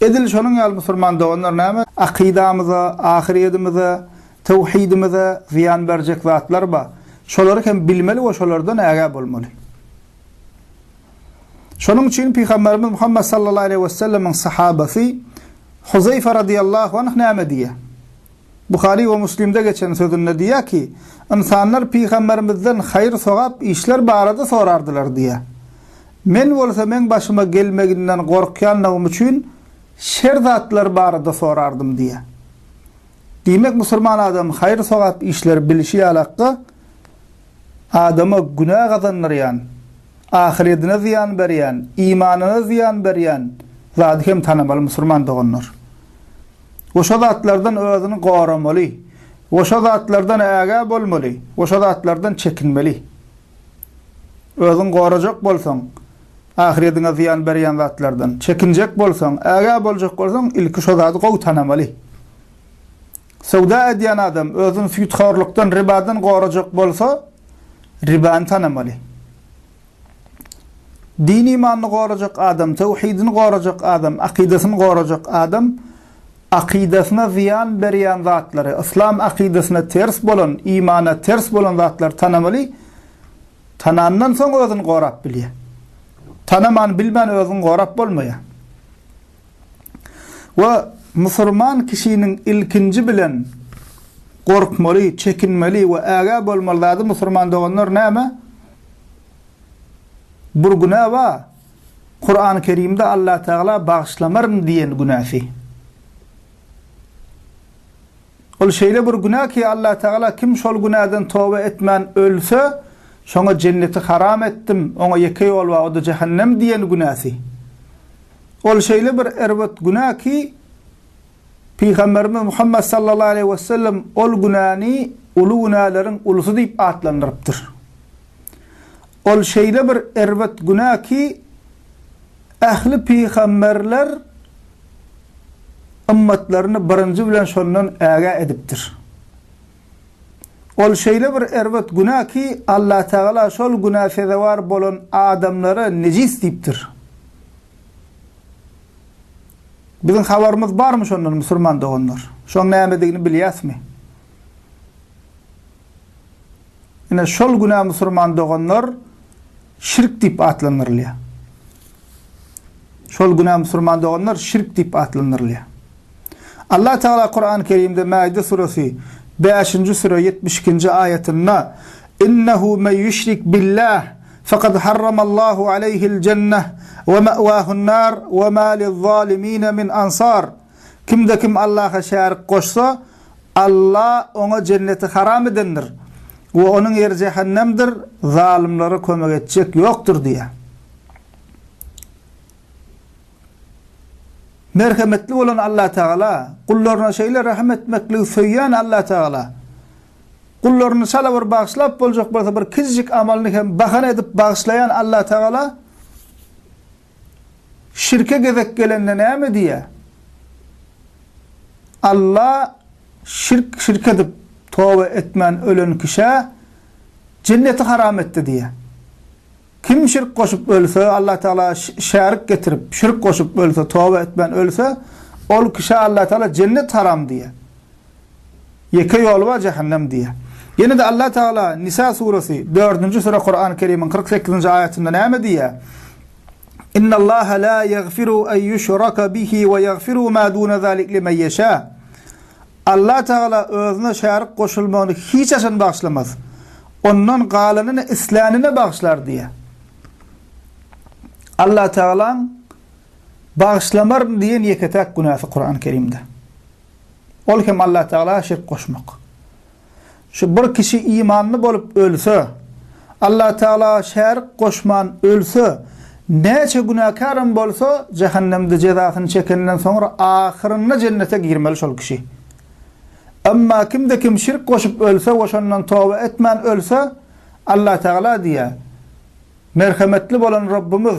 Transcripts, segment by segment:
Edil şonuň ýaly musulman doganlar näme? Akydamyza, ahyrýedimize, töwhidimize zyýan berjek zatlar bar. Şolary hem bilmeli we şolardan ägä bolmaly. Şonuň üçin Pygamberimiz Muhammet sallallahu aleýhi we sellemiň sahabasy Huzeýfe radyýallahu anh näme diýýär? Buhary we Muslimde geçen sözünde diýýär ki, Ynsanlar Pygamberimizden haýyr-sogap işler barada sorardylar diýýär. Men bolsa meň başyma gelmeginden gorkýanlygym üçin şer zatlar barada sorardym diýýär. Diýmek, musulman adam haýyr-sogap işleri bilişi ýaly hakda adama günä gazandyrýan, ahyredine zyýan berýän, imanyna zyýan berýän zady hem tanamaly, musulman doganlar. We şo zatlardan özüni goramaly, we şo zatlardan ägä bolmaly, we şo zatlardan çekinmeli. Özüňi gorajak bolsaň, ahyrediňe zyýan berýän zatlardan çekinjek bolsaň, ägä boljak bolsaň, ilki şo zady gowy tanamaly. Söwda edýän adam özüni süýthorlukdan, ribadan gorajak bolsa, ribany tanamaly. Din-imanyny gorajak adam, töwhidini gorajak adam, akydasyny gorajak adam, Akydasyna zyýan berýän zatlary, yslam akydasyna ters bolan, imana ters bolan zatlary tanamaly, tanandan soň özüni gorap bilýär. Tanaman, bilmän özüňi gorap bolmaýar. We musurman kişiniň ilkinji bilen gorkmaly, çekinmeli we ägä bolmaly zady musurman doganlar näme? Bir günä bar. Kurany Kerimde Allah Teala bagyşlamaryn diýen günäsi. Ol şeýle bir günä ki Allah Teala kim şol günäden toba etmän ölse şoňa jenneti haram etdim oňa ýeke ýol bar oda jähennem diýen günäsi. Ol şeýle bir erbet günä ki Pygamberimiz Muhammed sallallahu aleyhi ve sellem ol günäni uly günäleriň ulusy diýip atlandyrypdyr. Ol şeýle bir erbet günä ki, ähli pygamberler ymmatlaryny birinji bilen şondan ägä edipdir. Ol şeýle bir erbet günä ki, Allatagala şol günä sezewar bolan adamlara nejis diýipdir. Biziň habarymyz barmy şondan, musulman doganlar? Şoň nämedigini bilýäsmi? Ine, şol günä musurman doganlar şirk diýip atlandyrylýar. Şol günä musurman doganlar şirk diýip atlandyrylýar. Allah Teala Kur'an-ı Kerimde Maide suresi 5-nji süre 72-nji aýatynda Innehu men yüşrik billah faqad harramallahu aleyhil cenneh ve me'vahun nar ve ma lil zalimine min ansar Kimde-kim Allaha şärik goşsa, Alla oňa jenneti haram edendir we onuň ýeri jähennemdir, zalymlara kömek etjek ýokdur diýýär. Merhemetli bolan Allatagala, gullaryna şeýle rehim etmekligi söýýän Allatagala, gullaryny çala bir bagyşlap boljak bolsa bir kiçijik amalyny hem bahana edip bagyşlaýan Allatagala, Şirke gezek gelende näme diýýär? Alla şirk şirk edip, toba etmän ölen kişä Jenneti haram etdi diýýär. Kim şirk goşup ölse, Alla Tagala şärik getirip, şirk goşup ölse, toba etmän ölse, ol kişä Alla Tagala Jennet haram diýýär. Ýeke ýoly bar jähennem diýýär. Ýene-de Allah Tagala Nisa suresi, dördünji süre Kurany Kerimiň kyrk sekizinji aýatynda näme diýýär? Innallaha la ýagfiru en ýuşraka bihi we ýagfiru ma duna zalik limen ýeşâ. Allah Tagala Özüne şärik goşulmagyny hiç haçan bagyşlamaz. Ondan galanyny islänine bagyşlar diýýär. Allah Tagalaň Bagyşlamaryn diýen ýeke-täk günäsi Kurany Kerimde. Ol hem Allah Tagala şirk goşmak. Şu bir kişi imanly bolup ölse, Allah Tagala şärik goşman ölse, näçe günäkärim bolsa, jähennemde jezasyny çekenden soňra ahyrynda jennete girmeli şol kişi. Emma kimde kim şirk goşup ölse we şondan toba etmän ölse, Allah Tagala diýýär, Merhemetli bolan Rabbymyz,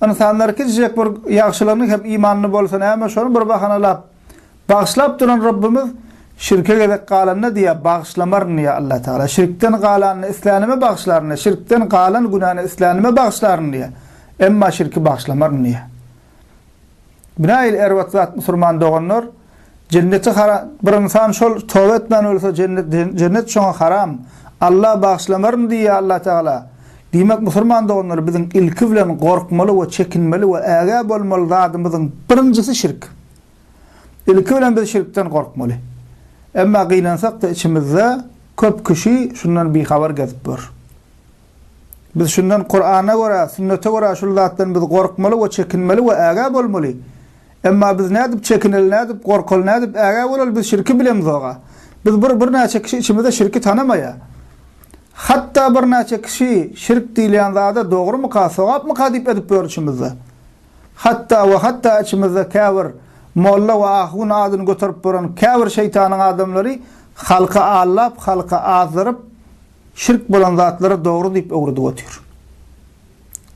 ynsanlar kiçijek bir ýagşylygyny hem imanly bolsa näme şony bir bahanalap, bagyşlap duran Rabbymyz şirke gezek galanda diýýär, bagyşlamaryn diýýär Allah Tagala, şirkden galanyny islänime bagyşlaryn diýýär, şirkden galan günäni islänime bagyşlaryn diýýär, emma şirki bagyşlamaryn diýýär. Binaýyl erbat zat musurman doganlar Jenneti haram bir ynsan şol toba etmän ölse jennet şoňa haram Alla bagyşlamaryn diýýä Alla tagala Diýmek musurman doganlar biziň ilki bilen gorkmaly we çekinmeli we ägä bolmaly zadymyzyň birinjisi şirk ilki bilen biz şirkden gorkmaly emma gynansakda içimizde köp kişi şundan bihabar gezip ýör. Biz şundan Kurana görä, sünnete görä şul zatdan biz gorkmaly we çekinmeli we ägä bolmaly. Emma biz nädip çekineli, nädip gorkaly, nädip ägä bolaly biz şirki bilemzoga. Biz bir bir näçe kişi içimizde şirki tanamaýa. Hatda bir näçe kişi şirk diýilýän zada dogrumyka, sogapmyka diýip edip ýör içimizde. Hatda we hatda içimizde käbir molla we ahun adyny göterip boran käbir şeýtanyň adamlary halky allap, halky azdyryp, Şirk bolan zatlara dogry diýip öwredip otyr.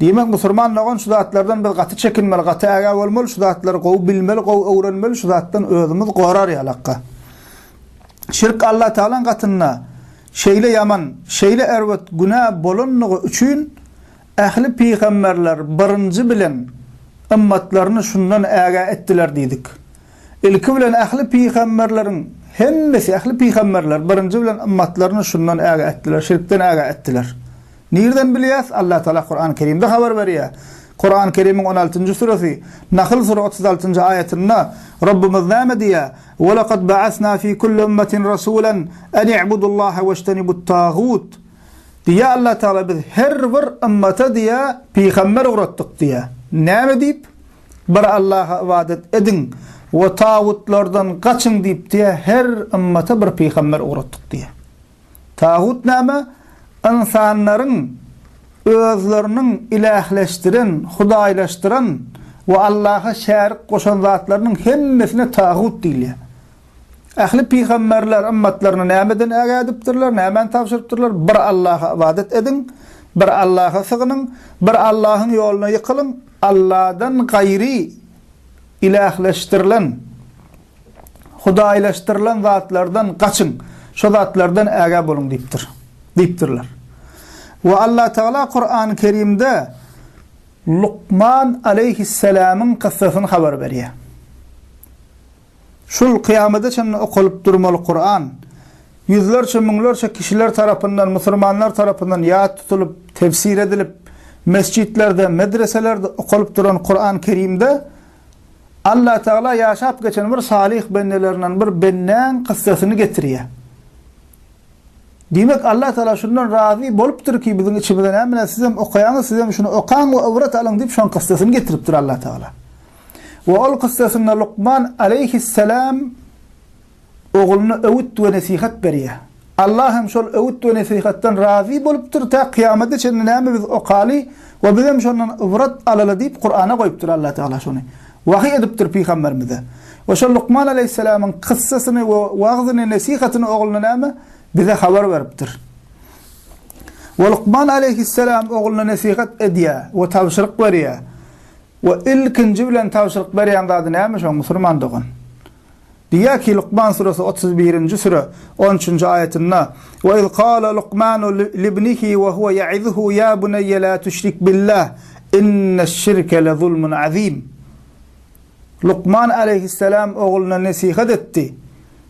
Diýmek, musurman dogan şu zatlardan biz gaty çekinmeli, gaty ägä bolmaly, şu zatlary gowy bilmeli, gowy öwrenmeli, şu zatdan özümiz gorar ýalakka. Şirk Alla Tagalaň gatynda şeýle ýaman, şeýle erbet günä bolanlygy üçin ähli pygamberler birinji bilen ymmatlaryny şundan ägä etdiler diýdik. Ilki bilen ähli pygamberleriň hemmesi, ähli pygamberler birinji bilen ymmatlaryny şundan ägä etdiler, şirkden ägä etdiler. Nirden bilýäs? Alla Taala Kurany Kerimde habar berýär. Kurany Kerimiň on altynjy suresi, Nahl sure otuz altynjy aýatynda Rabbymyz näme diýýär? Welakad ba'asna fi kulli ummatin rasulan an i'budullaha weştenibut tagut. Diýýär Alla Taala biz her bir ymmata diýýär pygamber ugratdyk diýýär. Näme diýip? Bir Allaha ybadat ediň we tagutlardan gaçyň diýipdi, her ymmata bir pygamber ugratdyk diýýär. Tagut näme? Ynsanlaryň özleriniň ilähleşdiren, hudaýlaşdyran we Allaha şärik goşan zatlarynyň hemmesine tagut diýilýär. Ähli pygamberler ymmatlaryna nämeden ägädipdirler, nämäni tabşyrypdyrlar? Bir Allaha ybadat ediň, bir Allaha sygynyň, bir Allahyň ýoluna ýykylyň, Alladan gaýry ilähleşdirilen, hudaýlaşdyrylan, zatlardan gaçyň, şo zatlardan ägä boluň diýipdir, diýipdirler. We Allatagala Kurany Kerimde Lukman aleýhisselamyň kyssasyny habar berýär. Şul kyýamada çenli okalyp durmaly Kuran, ýüzlerçe-müňlerçe kişiler tarapyndan, musurmanlar tarapyndan ýat tutulyp, tefsir edilip, mesjitlerde, medreselerde okalyp duran Kuran Kerimde Allatagala ýaşap geçen bir salyh bendelerinden bir bendäň kyssasyny getirýär. Diýmek, Allatagala şundan razy bolupdyr ki, biziň içimize näme bilen sizem okaýaňyz, sizem şuny okaň we ybrat alyň diýip şoň kyssasyny getiripdir Allatagala. we ol kyssasynda Lukman aleýhisselam ogluna öwüt we nesihat berýär. Allah hem şol öwüt we nesihatdan razy bolupdyr, tä kyýamata çenli näme biz okaly we bizem şondan ybrat alaly diýip Kurana goýupdyr Allah Tagala şony. Wahyý edipdir pygamberimize. We şol Lukman aleýhisselamyň kyssasyny we wagzyny, nesihatyny ogluna näme? Bize habar beripdir. We Lukman aleýhisselam ogluna nesihat edýär we tabşyryk berýär. We ilkinji bilen tabşyryk berýän zady näme şoň, musulman dogan? Diýýär ki, Lukman suresi otuz birinji süre, on üçünji aýatynda, Ve iz kâle Lukmanu libnihi ve huve ye'izuhu ya buneyye la tüşrik billah inneşşirke lezulmun azim. Lukman aleýhisselam ogluna nesihat etdi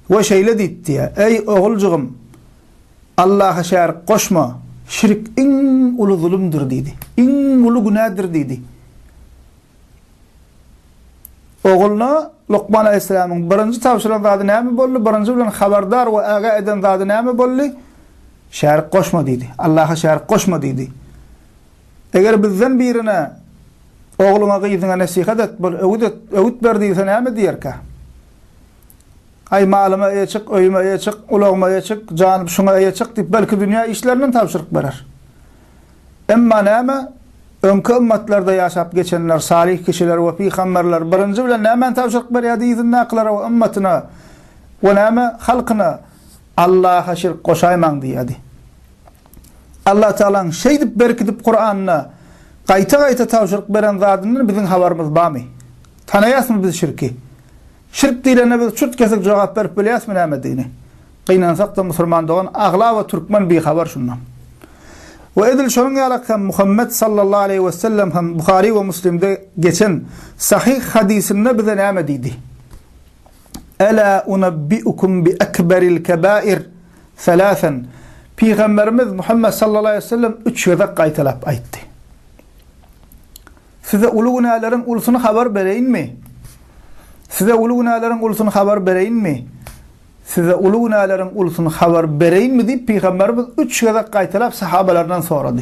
we şeýle diýip diýýär, Eý, oguljygym, Allaha şärik goşma, şirk iň uly zulumdyr diýdi. Iň uly günädir diýdi. Ogluna Lukman aleýhissalamyň birinji tabşyran zady näme boldy? Birinji bilen habardar we aga eden zady näme boldy? Şärik goşma diýdi. Allaha şärik goşma diýdi. Eger bizden birine ogluňa, gyzyňa nesihat et, bir öwüt et, öwüt ber diýilse näme diýerkä? Aý, malyma eýe çyk, öýüme eýe çyk, ulagyma eýe çyk, janyp şuňa eýe çyk diýip, belki dünýä işlerinden tabşyryk berer. Emma näme, öňki ymmatlarda ýaşap geçenler, salyh kişiler we pygamberler birinji bilen nämäni tabşyryk berýärdi yzyndakylara we ymmatyna we näme, halkyna? Allaha şirk goşaýmaň diýýärdi. Allatagalaň şeýdip berkidip Kuranda gaýta-gaýta tabşyryk beren zadyndan biziň habarymyz barmy? Tanaýasmy biz şirki? Şirk diýlende biz çürt-kesik jogap berip bilýäsmi nämedigini? Gynansakda musulman dogan aglaba türkmen bihabar şundan. We edil şonuň ýalyk hem Muhammet sallallahu aleýhi wesellem hem Buhary we Muslimde geçen sahyh hadysynda bize näme diýdi? Ela unabbiukum bi ekberil kebair salasan Pygamberimiz Muhammet sallallahu aleýhi wesellem üç gezek gaýtalap aýtdy. Size uly günäleriň ulusyny habar bereýinmi? Size uly günäleriň ulusyny habar bereýinmi? Size uly günäleriň ulusyny habar bereýinmi diýip pygamberimiz üç gezek gaýtalap sahabalaryndan sorady.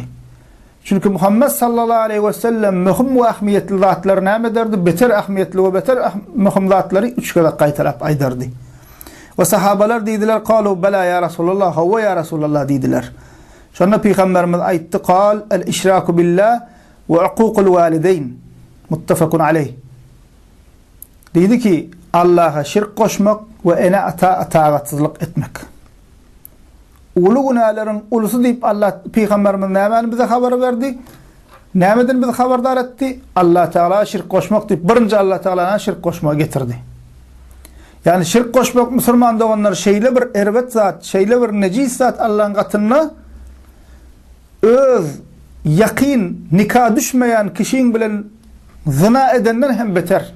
Çünki Muhammed sallallahu aleyhi ve sellem möhüm we ahmiyetli zatlar näme derdi? Beter ahmiyetli ve beter ah möhüm zatları üç kere kaytalap aydardı. Ve sahabalar dediler, kalu bela ya Resulallah, havva ya Resulallah dediler. Şonda Peygamberimiz aytti, kal el işraku billah, we Ukukul walideyn, Muttafakun aleýh, Diýdi ki, Allaha şirk goşmak we ene-ata itagatsyzlyk etmek. Uly günäleriň ulusy diýip Allah Pygamberimiz nämäni bize habar berdi? Nämeden bizi habardar etdi? Allah Tagala şirk goşmak diýip birinji Allah Tagalana şirk goşmagy getirdi. Ýagny şirk goşmak musulman doganlar şeýle bir erbet zat, şeýle bir nejis zat Allahyň gatynda Öz ýakyn nika düşmeýän kişiň bilen zyna edenden hem beter.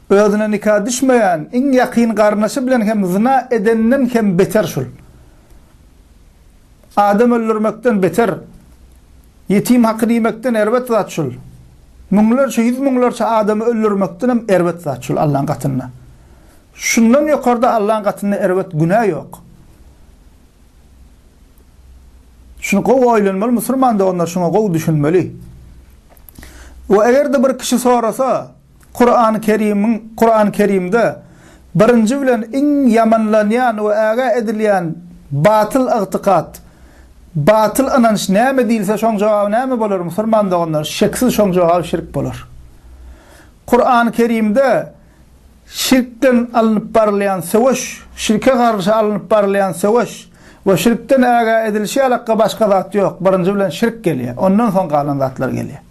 Özüne nika düşmeýän iň ýakyn garyndaşy bilen hem zyna edenden hem beter şul. Adam öldürmekden beter. Ýetim hakyny iýmekden erbet zat şul. Müňlerçe, ýüz müňlerçe adamy öldürmekden hem erbet zat şul Allaň gatynda. Şundan ýokarda Allaň gatynda erbet günä ýok. Şuny gowy oýlanmaly musulman doganlar şuňa gowy düşünmeli. We eger-de bir kişi sorasa, Kurany Kerimiň Kurany Kerimde birinji bilen iň ýamanlanýan we ägä edilýän batyl ygtykat, batyl ynanç näme diýilse şoň jogaby näme bolar musulman doganlar şeksiz şoň jogaby şirk bolar. Kurany Kerimde Şirkden alnyp barylýan söweş, şirke garşy alnyp barylýan söweş we şirkden ägä edilişi ýalakka başga zat ýok, birinji bilen şirk gelýär, ondan soň galan zatlar gelýär.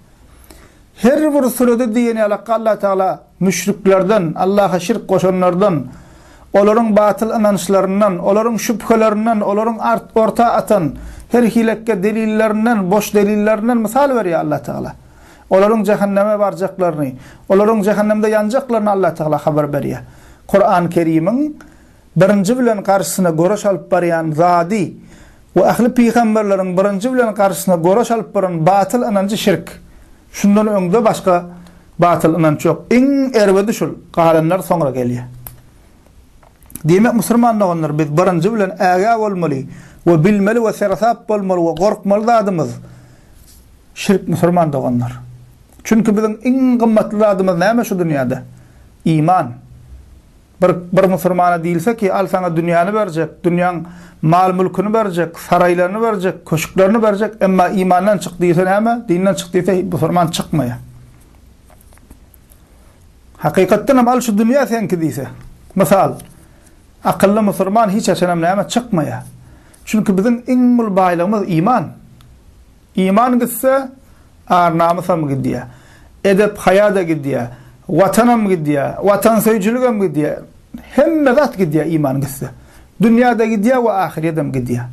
Her bir sürede diýen ýalakka Allatagala müşriklerden, Allaha şirk goşanlardan, olaryň batyl ynançlaryndan, olaryň şübhelerinden, olaryň orta atan her hilekge delillerinden, boş delillerinden mysal berýär Allatagala. Olaryň jähenneme barjaklaryny, olaryň jähennemde ýanjaklaryny Allatagala habar berýär. Kurany Kerimiň birinji bilen garşysyna göreş alyp barýan zady we ähli pygamberleriň birinji bilen garşysyna göreş alyp baran batyl ynanjy şirk. Şundan öňde başga batyl ynanç ýok. Iň erbedi şul, galanlar soňra gelýär. Diýmek musurman doganlar biz birinji bilen ägä bolmaly we bilmeli we seresap bolmaly we gorkmaly zadymyz şirk musurman doganlar. Çünki biziň iň gymmatly zadymyz näme şu dünýäde? Iman. Bir bir musurmana diýilse ki al saňa dünýäni berjek, dünýäň mal mülküni berjek, saraýlaryny berjek, köşklerini berjek emma imandan çyk diýilse näme? Dinden çyk diýilse musurman çykmaýa. Hakykatdan hem al şu dünýä seňki diýse. Mysal, akylly musurman hiç haçanam näme çykmaýar. Çünki biziň iň uly baýlygymyz iman. Iman gitse, ar-namysam gidýär. Edep-haýa-da gidýär. Watanam gidýär. Watansöýüjiligem gidýär. Hemme zat gidýär iman gitse. Dünýä-de gidýär we ahyrýedem gidýär.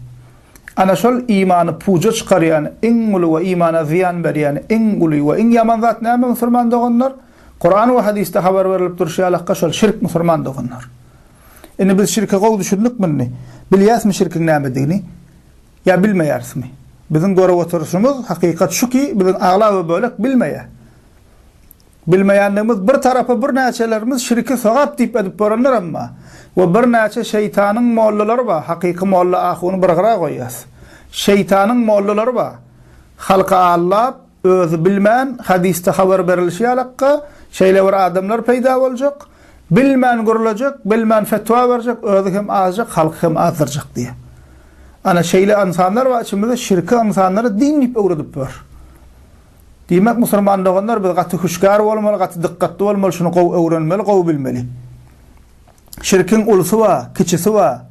Ana şol imany puja çykarýan iň uly we imana zyýan berýän iň uly we iň ýaman zat näme musulman doganlar? Kuran we hadysda habar berlip durşy ýalakka şol şirk musulman doganlar. Indi biz şirke gowy düşündikmi indi? Bilýäsmi şirkiň nämedigini? Ýa bilmeýärismi? Biziň görüp oturyşymyz hakykat şu ki biziň aglaba bölek bilmeýä. Bilmeýändigimiz bir tarapa birnäçelerimiz şirki sogap diýip edip görenler emma we birnäçe şeýtanyň mollalary bar hakyky molla ahuny bir gyra goýýas şeýtanyň mollalary bar halky aldap özi bilmän hadysda habar berilişi ýalakka şeýle bir adamlar peýda boljak bilmän gürlejek bilmän fetwa berjek özi hem azjak halky hem azdyrjak diýe ana şeýle ynsanlar bar içimizde şirki ynsanlara din diýip öwredip ýör. Diýmek musurman doganlar biz gaty hüşgär bolmaly gaty dykgatly bolmaly şuny gowy öwrenmeli gowy bilmeli. Şirkiň ulysy ba, kiçisi ba,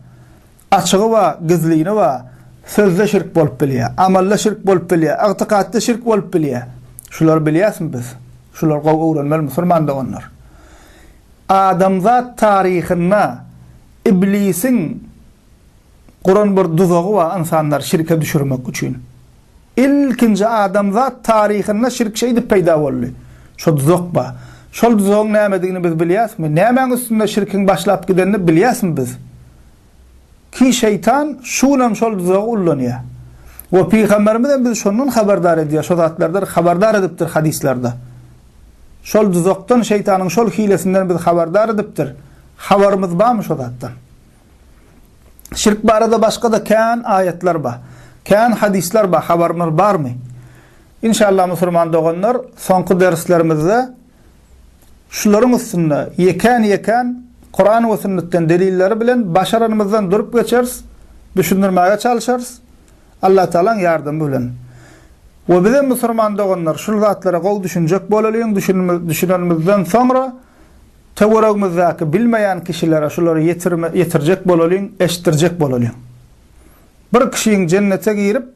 açygy ba, gizlini ba, sözde şirk bolup bilýä, amalda şirk bolup bilýä, ygtykatda şirk bolup bilýä. Şulary bilýäsmi biz? Şulary gowy öwrenmeli musurman doganlar. Adamzat taryhynda iblisiň guran bir duzagy ba ynsanlary şirke düşürmek üçin. Ilkinji adamzat taryhynda şirk şeýdip peýda boldy. Şo duzak ba. Şol duzagyň nämedigini biz bilýäsmi? Nämäň üstünde şirkiň başlap gidenini bilýäsmi biz? Ki şeýtan şu günem şol duzagy ullanýar. We pygamberimizem bizi şondan habardar edýär, şo zatlardan habardar edipdir hadyslarda. Şol duzakdan şeýtanyň şol hilesinden bizi habardar edipdir. Habarymyz barmy şo zatdan? Şirk barada başga-da kän aýatlar bar. Kän hadyslar bar, habarymyz barmy? Inşallah musulman doganlar, soňky derslerimizde şularyň üstünde ýekän-ýekän Kuran we sünnetden delilleri bilen başaranymyzdan durup geçeris, düşündirmäge çalyşarys, Allatagalaň ýardamy bilen. We bizem musulman doganlar şul zatlara gowy düşünjek bolalyň, düşünenimizden soňra, Töweregimizdäki bilmeýän kişilere şulary ýetirme, ýetirjek bolalyň, eşitdirjek bolalyň. Bir kişiň jennete girip,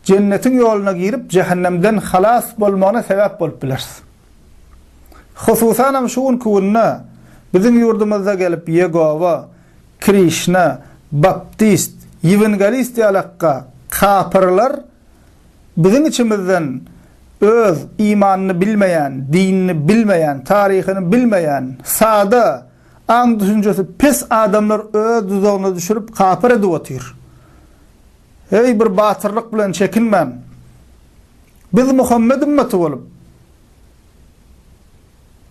jennetiň ýoluna girip, jähennemden halas bolmagyna sebäp bolup bileris. Hususanam şu günki günde biziň ýurdumyzda gelip Ýegowa, Krişna, Baptist, Ýewengelist ýalakka kapyrlar Biziň içimizden öz imanyny bilmeýän, dinini bilmeýän, taryhyny bilmeýän, sada, aň-düşünjesi pes adamlar öz duzagyna düşürip kapyr edip otyr. Heý, bir batyrlyk bilen çekinmän, Biz Muhammet ümmeti bolup,